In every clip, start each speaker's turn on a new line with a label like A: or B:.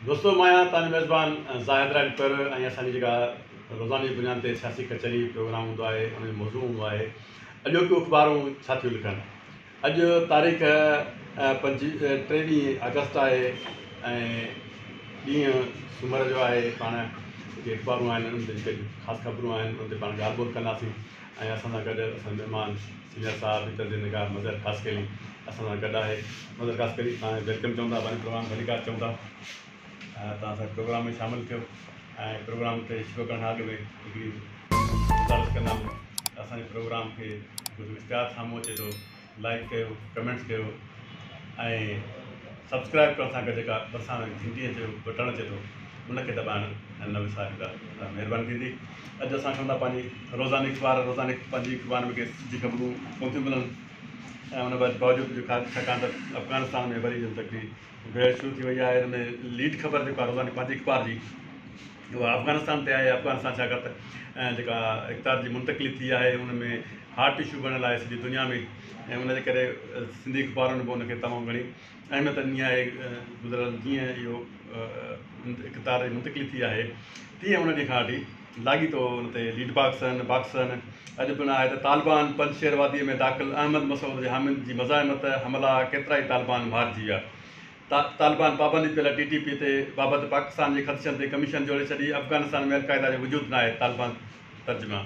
A: دوستو مان آهيان توهان جو ميزبان زاهد راڄپر ۽ اسان جي جيڪا روزاني جي بنياد تي سياسي ڪچهري پروگرام هوندو آهي ان جو موضوع هوندو آهي اڄوڪيون اخبارون ڇا ٿيون لکن اڄ تاريخ پنج ٽيويهه آگسٽ آهي ۽ ڏينهن سومر جو آهي پاڻ جيڪي اخبارون آهن ان تي جيڪي خاص خبرون آهن ان تي پاڻ ڳالهه ٻولهه ڪنداسين ۽ اسان سان گڏ اسان جا مھمان سينيئر صاحب ۽ تجزئي نگار مظھر خاصخيلي اسان سان گڏ آھي مظھر خاصخيلي توھان کي ويلڪم چئون ٿا پنھنجي پروگرام ڀليڪار چئون ٿا توھان اسان پروگرام ۾ شامل ٿيو ۽ پروگرام کي شروع ڪرڻ کان اڳ ۾ ھڪڙي گذارش ڪندم ته اسان جي پروگرام کي ڪجهه اشتھار سامھون اچي ٿو لائڪ ڪيو ڪمينٽس ڪيو ۽ سبسڪرائب ڪرڻ سان گڏ جيڪا ڀرسان گھنٽيء جو بٽڻ اچي ٿو ان کي دٻائڻ نه وساريندا ته مھرباني ٿيندي اڄ اسان کڻون ٿا پنهنجي روزاني اخبار روزاني پنهنجي اخبار ۾ ڪي سڌي خبرون ڪون ٿيون ملن ۽ ان باوجود جو ڇاڪاڻ ته افغانستان ۾ وري جن تڪڙي بحث شروع ٿي وئي آهي ان ۾ ليڊ خبر جيڪا روزاني پنهنجي اخبار جي اها افغانستان تي آهي، افغانستان ڇاڪاڻ ته جيڪا اقتدار جي منتقلي ٿي آهي ان ۾ هاٽ اشو بڻيل آهي سڄي دنيا ۾ ۽ ان جي ڪري سنڌي اخبارن به ان کي تمام گهڻي اهميت ڏني آهي گذريل جيئن اهو اقتدار جي منتقلي ٿي آهي تيئن ان ڏينهن کان وٺي لاڳيتو ان تي ليڊ باڪسن باڪسن اڄ پڻ آهي ته طالبان پنجشير واديء ۾ داخل احمد مسعود جي حامد جي مزاحمت حملا ڪيترائي طالبان مارجي ويا طالبان پابندي پيل ٽي ٽي پي تي بابت پاڪستان جي خدشن تي ڪميشن جوڙي ڇڏي، افغانستان ۾ القاعده جو وجود ناهي، طالبان ترجمان.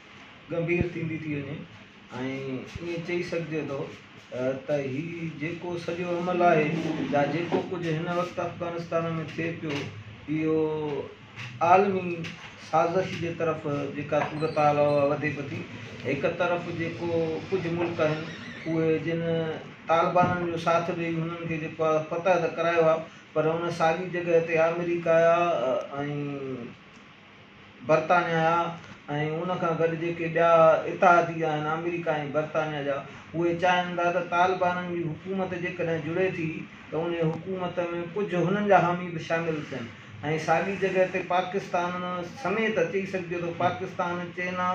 B: ڳنڀير ٿيندي ٿي وڃي ۽ ائين چئي سگهجي ٿو ته هي جيڪو سڄو عمل آهي يا جيڪو ڪجهه هن وقت افغانستان ۾ ٿئي پيو اهو عالمي سازش جي طرف جيڪا صورتحال اها وڌي پئي ٿي هڪ طرف جيڪو ڪجهه ملڪ آهن اهي جن طالبانن جو ساٿ ڏئي هنن کي جيڪو آهي فتح ته ڪرايو آهي پر ان ساڳي جڳهه تي آمريڪا ۽ برطانيا جا ۽ ان کان گڏ جيڪي ٻيا اتحادي آهن آمريڪا ۽ برطانيا جا اهي چاهين ٿا ته طالبانن جي حڪومت جيڪڏهن جڙي ٿي ته انهي حڪومت ۾ ڪجهه هنن جا حامي به شامل ٿين ۽ ساڳي جڳهه تي پاڪستان سميت چئي سگهجي ٿو پاڪستان چينا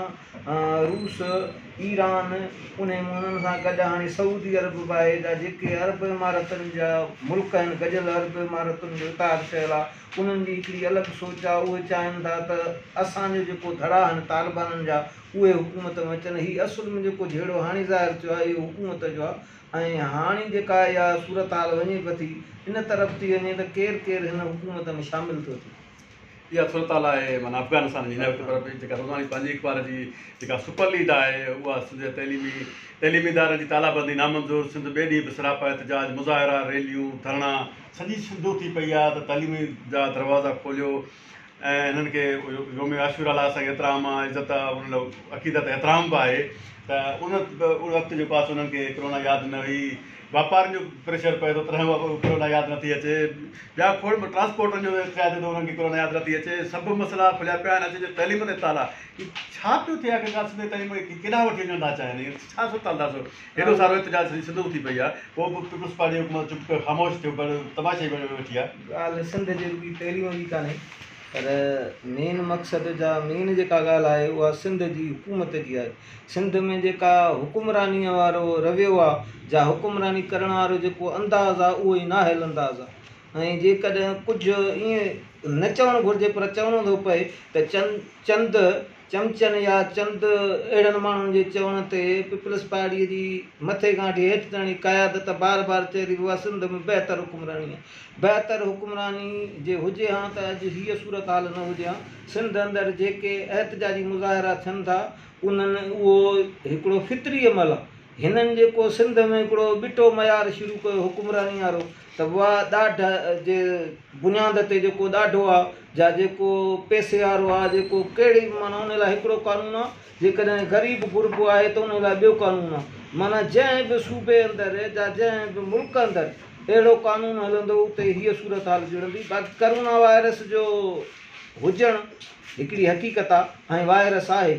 B: روس ايران انهي انهن سان گڏ هاڻي سعودي عرب به آهي جا جيڪي عرب امارتن جا ملڪ آهن گڏيل عرب امارتن جو اتحاد ٺهيل آهي انهن جي هڪڙي الڳ سوچ آ، اهي چاهن ٿا ته اسان جو جيڪو ڌڙا آهن طالبانن جا اهي حڪومت ۾ اچن، هي اصل ۾ جيڪو جهيڙو هاڻي ظاهر ٿيو آهي اهو حڪومت جو آ ۽ هاڻي جيڪا اها صورتحال وڃي پٿي ان طرف ٿي وڃي ته ڪير ڪير هن حڪومت ۾ شامل ٿو ٿئي. اها صورتحال آهي
A: معنيٰ افغانستان جي هن وقت پر به جيڪا روزاني پنهنجي اخبار جي جيڪا سپر ليڊ آهي اها سنڌ جي تعليمي تعليمي ادارن جي تالابندي نامنظور سنڌ ٻئي ڏينهن به سراپا احتجاج، مظاهرا، ريليون، ڌرڻا، سڄي سنڌ اٿي پئي آ ته تعليم جا دروازا کوليو ۽ هنن کي يوم عاشورا لاء اسان کي ايترا عام عزت آ ان لاء عقيدت احترام به آهي ته ان ان وقت جيڪو آ سو انهن کي ڪرونا ياد نه هئي واپارين جو پريشر پئي ٿو تڏهن به ڪرونا ياد نٿي اچي ٻيا کوڙ ٽرانسپورٽن جو چئي ٿي ته انهن کي ڪرونا ياد نٿي اچي سڀ مسئلا کليا پيا آهن اڄ تعليم تي تالا ڇا پيو ٿئي آخرڪار سنڌ جي تعليم کي ڪيڏانهن وٺي وڃڻ ٿا چاهين ڇا سوچ ٿا ڏسو هيڏو سارو احتجاج سڄي سنڌ اٿي پئي آهي پوء به پيپلز پارٽي حڪومت چپ ڪري خاموش ٿيو پيو تماشائي بڻي ويٺي آهي. ڳالهه سنڌ جي رڳي
B: پهريون جي ڪانهي پر مين مقصد جا مين جيڪا ڳالهه آهي اها سنڌ جي حڪومت جي آهي سنڌ ۾ جيڪا حڪمراني وارو رويو آهي جا حڪمراني ڪرڻ وارو جيڪو انداز آهي اهو ئي نااهل انداز آهي ۽ جيڪڏهن ڪجهه ائين نه چوڻ گهرجي پر چوڻو ٿو پئي ته چند چند چمچن يا چند اهڙن ماڻهن جي چوڻ تي پيپلز پارٽيء جي مٿي کان وٺي هيٺ تائڻي قيادت بار بار چئي رهي هئي اها سنڌ ۾ بهتر حڪمراني آهي بهتر حڪمراني جي هجي هان ته اڄ هيء صورتحال نه هجي هان سنڌ اندر جيڪي احتجاجي مظاهرا ٿين ٿا انهن اهو هڪڙو فطري عمل آهي هنن جيڪو سنڌ ۾ هڪڙو ٻٽو معيار شروع ڪيو حڪمراني وارو ته اها ڏاڍ جي بنياد تي جيڪو ڏاڍو آ جا جيڪو پئسي وارو آ جيڪو ڪهڙي به معنيٰ ان لاء هڪڙو قانون آ جيڪڏهن غريب غربو آهي ته ان لاء ٻيو قانون آ معنيٰ جنهن به صوبي اندر جا جنهن به ملڪ اندر اهڙو قانون هلندو اتي هيء صورت حال جڙندي باقي ڪرونا وائرس جو هجڻ هڪڙي حقيقت آ ۽ وائرس آهي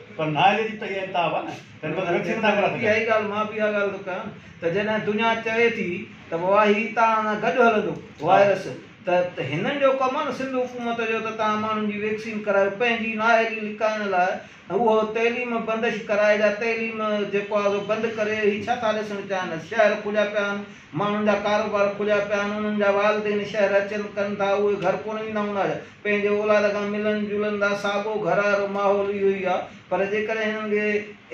A: پر نااهلي جي تئي ۽ تاب آ نه تنهن بدران ويڪسين نٿا ڪرائي سگهن. اهائي ڳالهه مان به اها ڳالهه
B: ٿو ڪيان ته جڏهن دنيا چوي ٿي ته واهي تان سان گڏ هلندو وائرس ته هنن جو ڪم آ نه سنڌ حڪومت جو ته تان ماڻهن جي ويڪسين ڪرايو پنهنجي نااهلي لڪائڻ لاء اهو تعليم بندش ڪرائي جا تعليم جيڪو آ سو بند ڪري هي ڇا ٿا ڏسڻ چاهين شهر کليا پيا آهن ماڻهن جا ڪاروبار کليا پيا آهن انهن جا والدين شهر اچن ڪن ٿا اهي گهر ڪونه ويندا هوندا ڇا پنهنجي اولاد کان ملن جلن لاء ساڳو گهر وارو ماحول اهو ئي آهي پر جيڪڏهن هنن کي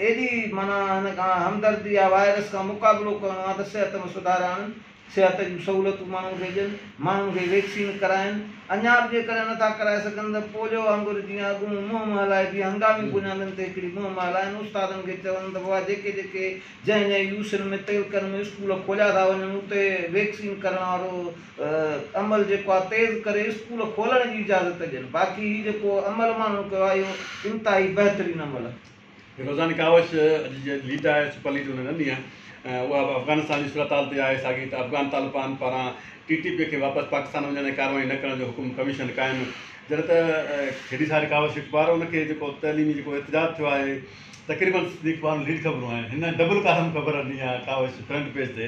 B: ايڏي معنيٰ هن کان همدردي آهي وائرس کان مقابلو ڪرڻو آهي ته صحت ۾ سڌار آڻين صحت جون سهولتون ماڻهن کي ڏين ماڻهن کي ويڪسين ڪرائين اڃا به جيڪڏهن نٿا ڪرائي سگهن ته پوليو وانگر جيئن اڳ مون منهن مان هلائي بيهي هنگامي بنيادن تي هڪڙي مهم مان هلائين استادن کي چون ته بابا جيڪي جيڪي جنهن جنهن يو سين ۾ تعلقن ۾ اسڪول کوليا ٿا وڃن اتي ويڪسين ڪرڻ وارو عمل جيڪو آهي تيز ڪري اسڪول کولڻ جي اجازت ڏين باقي هي جيڪو عمل ماڻهن ڪيو آهي اهو انتهائي بهترين عمل آهي. روزاني ڪاوش اڄ
A: جي ليڊ آهي سپر ليڊ ان ڏني آهي اها به افغانستان جي صورتحال تي آهي ساڳي ته افغان طالبان پاران ٽي ٽي پي کي واپس پاڪستان وڃڻ ۽ ڪارروائي نه ڪرڻ جو حڪم ڪميشن قائم جڏهن ته هيڏي ساري ڪاوش اخبار ان کي جيڪو تعليمي جيڪو احتجاج ٿيو آهي تقريبن سڀني اخبارن ليڊ خبرون آهن هن ڊبل ڪالم خبر ڏني آهي ڪاوش فرنٽ پيج تي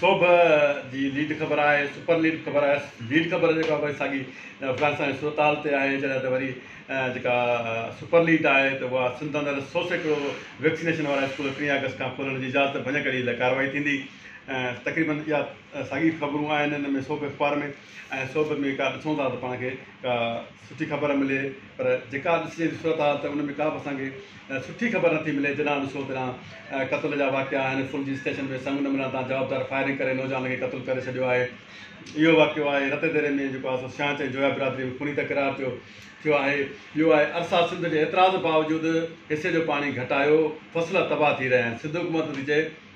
B: سوڀ
A: جي ليڊ خبر آهي سپر ليڊ خبر آهي ليڊ خبر جيڪا وري ساڳي افغانستان جي صورتحال تي آهي جڏهن ته وري جيڪا سپر ليڊ آهي ته اها سنڌ اندر سو سيڪڙو ويڪسينيشن وارا اسڪول ٽي آگسٽ کان کولڻ جي اجازت ڀڃ ڪري لاء ڪارروائي ٿيندي تقريبن اها ساڳي خبرون آهن ان ۾ سوڀ اخبار ۾ ۽ سوڀ ۾ ڪا ڏسون ٿا ته پاڻ کي ڪا سٺي خبر ملي پر جيڪا ڏسجي ٿي صورت حال ته ان ۾ ڪا به اسان کي سٺي خبر نٿي ملي جڏان ڏسو تڏان قتل جا واقعا آهن فل جي اسٽيشن ۾ سنگ نه ملڻ تان جوابدار فائرنگ ڪري نوجوان کي قتل ڪري ڇڏيو آهي اهو واقعو آهي رتي ديري ۾ جيڪو آهي سو سياڻ چئي جويا برادري ۾ خوني تڪرار ٿيو ٿيو آهي ٻيو آهي ارسا سنڌ جي اعتراض باوجود حصي جو پاڻي گهٽايو فصل تباهه ٿي رهيا آهن سنڌ حڪومت ٿي چئي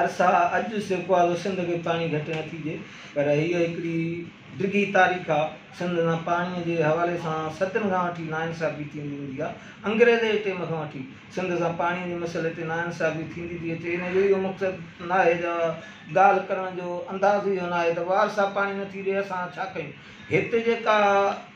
B: عرصا اڄ سيڪو آ جو سنڌ کي پاڻي گهٽ نه ٿي ڏي پر هيء هڪڙي ڊگهي تاريخ آ. سنڌ سان پاڻي جي حوالي سان صدين کان وٺي ناانصافي ٿيندي ايندي آ. انگريزي جي ٽيم کان وٺي سنڌ سان پاڻي جي مسئلي تي ناانصافي ٿيندي ٿي اچي ان جو اهو مقصد ناهي جا ڳالهه ڪرڻ جو انداز اهو ناهي ته وار صاحب پاڻي نه ٿي ڏي اسان ڇا ڪيون هت جيڪا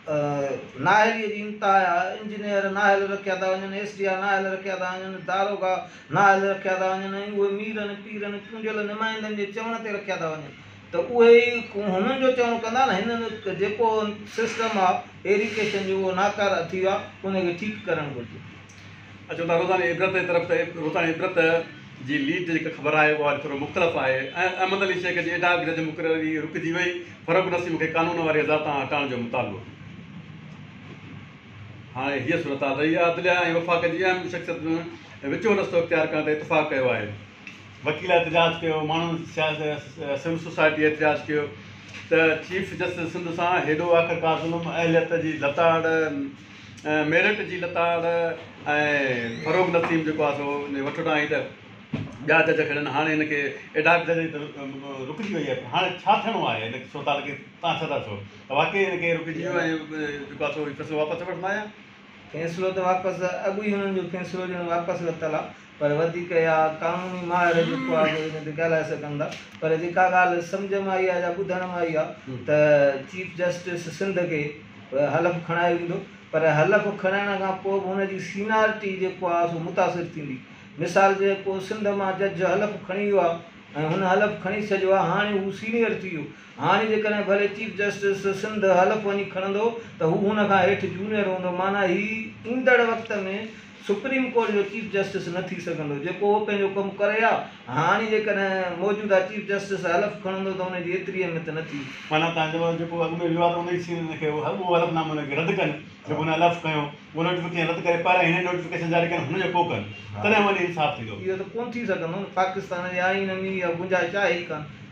B: نااهلي جي انتها آ انجنيئر نااهل رکيا ٿا وڃن ايس ڊي آ نااهل رکيا ٿا وڃن داروغا نااهل رکيا ٿا وڃن ۽ اهي ميرن، پيرن، چونڊيل نمائندن جي چوڻ تي رکيا ٿا وڃن ته اهي ئي هنن جو چوڻ ڪندا نه هنن جيڪو سسٽم آ ايريڪيشن جو اهو ناڪاره ٿي ويو آ ان کي ٺيڪ ڪرڻ گهرجي. اچو ته
A: روزاني عبرت جي طرف ته روزاني عبرت جي ليڊ تي جيڪا خبر آهي اها ٿورو مختلف آهي ۽ احمد علي شيخ جي ايڊهاڪ جج مقرري رڪجي وئي فاروق نسيم کي قانون واري اظهار تان هٽائڻ جو مطالبو. هاڻي هيء صورتحال رهي آهي. عدليه ۽ وفاق جي اهم شخصيتن ۾ وچون رستو اختيار ڪرڻ تي اتفاق ڪيو آهي. وڪيل احتجاج ڪيو، ماڻهن سول سوسائٽيء احتجاج ڪيو ته چيف جسٽس سنڌ سان هيڏو آخرڪار ظلم، اهليت جي لتاڙ، ميرٽ جي لتاڙ ۽ فروغ نسيم جيڪو آهي سو ان جي وٺوٽان هئي ته ٻيا جج کڙن هاڻي هن کي ايڊهاڪ ججن جي ته رڪجي وئي آهي پر هاڻي ڇا ٿيڻو آهي هن صورتحال کي تان سدا سو ته واقعي هن کي رڪجي ويو ۽ جيڪو آ سو هي فيصلو
B: واپس وٺندو آهيان. فيصلو ته واپس اڳ ئي هنن جو فيصلو ڄڻ واپس ورتل آ پر وڌيڪ اها قانوني ماهر جيڪو آ سو ان تي ڳالهائي سگهن ٿا پر جيڪا ڳالهه سمجهه ۾ آئي آ يا ٻڌڻ ۾ آئي آ ته چيف جسٽس سنڌ کي حلف کڻايو ويندو پر حلف کڻائڻ کان پوء به هن جي سينارٽي جيڪو آ سو متاثر ٿيندي مثال جيڪو سنڌ مان جج حلف کڻي ويو آ ۽ هن حلف کڻي ڇڏيو آ هاڻي هو سينيئر ٿي ويو هاڻي جيڪڏهن ڀلي چيف جسٽس سنڌ حلف وڃي کڻندو ته هو هن کان هيٺ جونيئر هوندو معنيٰ هي ايندڙ وقت ۾ سپريم ڪورٽ جو چيف جسٽس نه ٿي سگهندو جيڪو هو پنهنجو ڪم ڪري ها هاڻي جيڪڏهن موجوده چيف جسٽس حلف کڻندو ته ان جي ايتري اهميت نه ٿي معنيٰ تنهن چيو آهي جيڪو
A: اڳ ۾ ويو آهي ته ان جي سين ان کي اهو حلف نامو ان کي رد ڪن جيڪو هن حلف کنيو اهو نوٽيفڪيشن رد ڪري پهريان هن نوٽيفڪيشن جاري ڪن هن جو پوء ڪن تڏهن وڃي انصاف ٿيندو. اهو ته ڪونه ٿي سگهندو
B: نه پاڪستان جي آئين ۾ اها گنجائش آهي ئي ڪانه.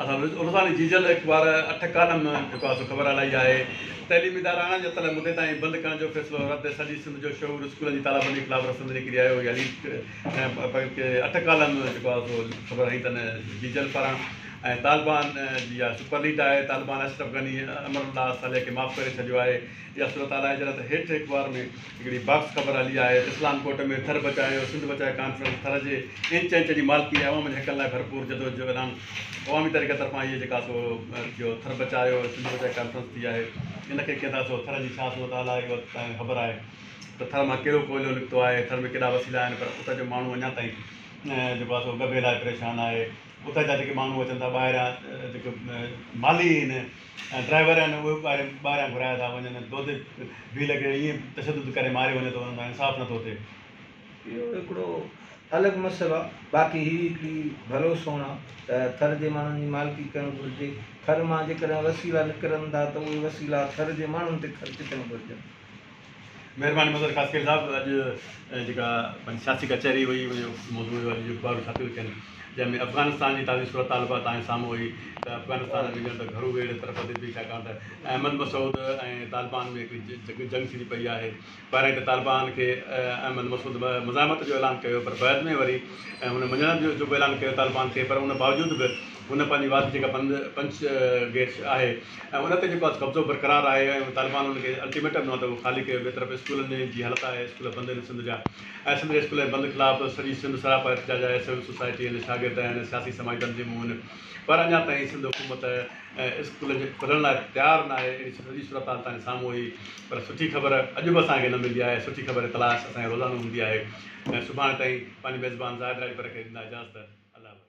B: اسان روزاني
A: جيجل اخبار اٺ ڪالم ۾ جيڪو آهي سو خبر الائي آهي. تعليمي ادارا اڻاڃاتل مدي تائين بند ڪرڻ جو فيصلو رد سڄي سنڌ جو شعور اسڪولن جي تالابندي خلاف رستن تي نڪري آيو اها ليڊ اٺ ڪالم جيڪو آهي سو خبر هنئين تن جيجل پاران ۽ طالبان جي اها سپر ليڊ آهي طالبان اشرف غني امرالله صالح کي معاف ڪري ڇڏيو آهي اها صورتحال آهي جڏهن ته هيٺ اخبار ۾ هڪڙي باڪس خبر هلي آهي ته اسلام ڪوٽ ۾ ٿر بچايو سنڌ بچايو ڪانفرنس ٿر جي انچ انچ جي مالڪي ۽ عوام جي حقن لاء ڀرپور جدوجھد جو اعلان عوامي تحريڪ طرفان هيء جيڪا سو ٿيو ٿر بچايو سنڌ بچايو ڪانفرنس ٿي آهي ان کي ڪيئن ٿا سو ٿر جي ڇا صورت حال آهي اها توهان کي خبر آهي ته ٿر مان ڪهڙو ڪوئلو نڪتو آهي ٿر ۾ ڪيڏا وسيلا آهن پر اتر جو ماڻهو اڃا تائين جيڪو آهي سو ڳڀي لاء پريشان آهي اتر جا جيڪي ماڻهو اچن ٿا ٻاهريان جيڪي مالهي اهن ڊرائيور آهن اهي به ٻاهريان گهرايا ٿا وڃن دودي ڀيل کي ائين تشدد ڪري ماريو وڃي ٿو انهن سان انصاف نٿو ٿئي. اهو هڪڙو
B: الڳ مسئلو آهي باقي هي هڪڙي ڀلو سون آهي ته ٿر جي ماڻهن جي مالڪي ڪرڻ گهرجي ٿر مان جيڪڏهن وسيلا نڪرن ٿا ته اهي وسيلا ٿر جي ماڻهن تي خرچ ٿيڻ گهرجن. مهرباني
A: مظهر خاصخيل صاحب اڄ جيڪا پنهنجي سياسي ڪچهري هئي ان جو موضوع هيو اڄ جو اخبارون ڇاپيون ٿين جنهن ۾ افغانستان جي تازي صورتحال به تان سامهون هئي ته افغانستان ۾ ڄڻ ته گهرو ويڙهه طرف وڌي پئي ڇاڪاڻ ته احمد مسعود ۽ طالبان ۾ هڪڙي جنگ ٿيندي پئي آهي پهريائين ته طالبان کي احمد مسعود مزاحمت جو اعلان ڪيو پر بعد ۾ وري هن مڃڻ جو به اعلان ڪيو طالبان کي پر ان باوجود به هن پنهنجي واڌ جيڪا بند پنچ گيٽ آهي ۽ ان تي جيڪو قبضو برقرار آهي ۽ طالبان ان کي الٽيميٽم ڏنو آهي ته اهو خالي ڪيو ٻئي طرف اسڪولن جي حالت آهي اسڪول بند آهن سنڌ جا ۽ سنڌ جي اسڪولن جي بند خلاف سڄي سنڌ سراپا احتجاج آهي سول سوسائٽي ۽ شاگرد ۽ سياسي سماجي تنظيمون پر اڃا تائين سنڌ حڪومت اسڪول جي کلڻ لاء تيار نه آهي اهڙي سڄي صورتحال تان سامهون هئي پر سٺي خبر اڄ به اسان کي نه ملي آهي سٺي خبر تلاش اسان کي روزانو هوندي آهي ۽ سڀاڻي تائين پنهنجي ميزبان زاهد راڄپر کي ڏيندا اجازت الله حوالي.